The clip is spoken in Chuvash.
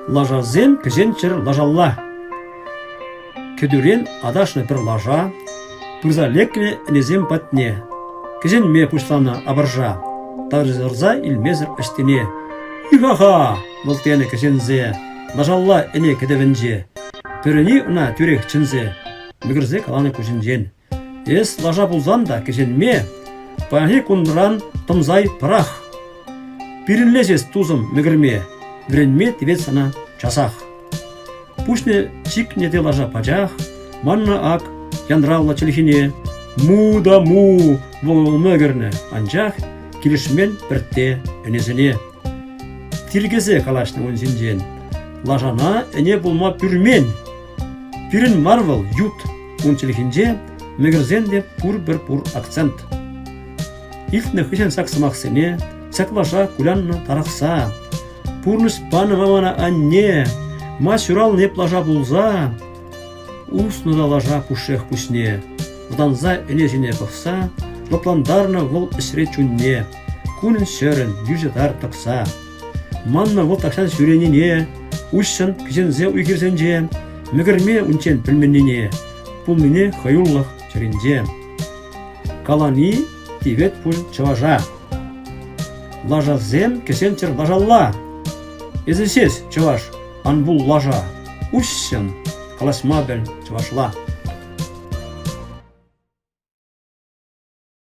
Лашасем кӗҫӗнччӗр лашалла. Кӗтӳрен аташнӑ пӗр лаша пырса лекрӗ ӗнесем патне. Кӗҫӗнме пуҫланӑ апӑрша. Тарсӑрса илмесӗр ӑҫтине. Ихаха! вӑлтенӗ кӗҫӗнсе. Лашалла ӗне кӗтӗвӗнче. Пӗрӗни ӑна тӳрех чӗнсе. Мӗкӗрсе каланӑ куҫӗнчен. Эс лаша пулсан та кӗҫенме, паянхи кунран тӑмсай пӑрах. Пирӗнлес эс, тусӑм, мӗкӗрме, вӗренме тивет сана часах. Пуҫне чикнӗ те лаша пачах, манна ак янравлӑ чӗлхине му да му вӑл мӗкӗрнӗ, анчах килӗшмен пӗртте ӗнесене. Тиркесе калаҫнӑ ун ҫинчен. Лашана ӗне пулма пӳрмен, Пирӗн мар вӑл ют, ун чӗлхинче мӗкӗрсен те пурпӗр-пур акцент. Илтнӗ хыҫҫӑн ҫак сӑмахсене ҫаклаша куляннӑ тарӑхса, пурнӑҫ панӑ мана анне, ма ҫуралнӑ эп лаша пулса, уснӑ та лаша пушшех куҫне, вӑтанса ӗне ҫине пӑхса, лӑплантарнӑ вӑл ӗҫре чунне, кунӗн-ҫӗрӗн йӳҫӗ тар тӑкса. Маннӑ вӑл тахҫан ҫӳренине, уҫҫӑн кӗҫенсе уй-хирсенче, мӗкӗрме унччен пӗлменнине, пулнине хӑюлӑх чӗринче. Калани тивет пуль чӑваша. Лашасем кӗсенчӗр лашалла. Эсӗ сес, чӑваш, ан пул лаша, уҫҫӑн калаҫма пӗл чӑвашла.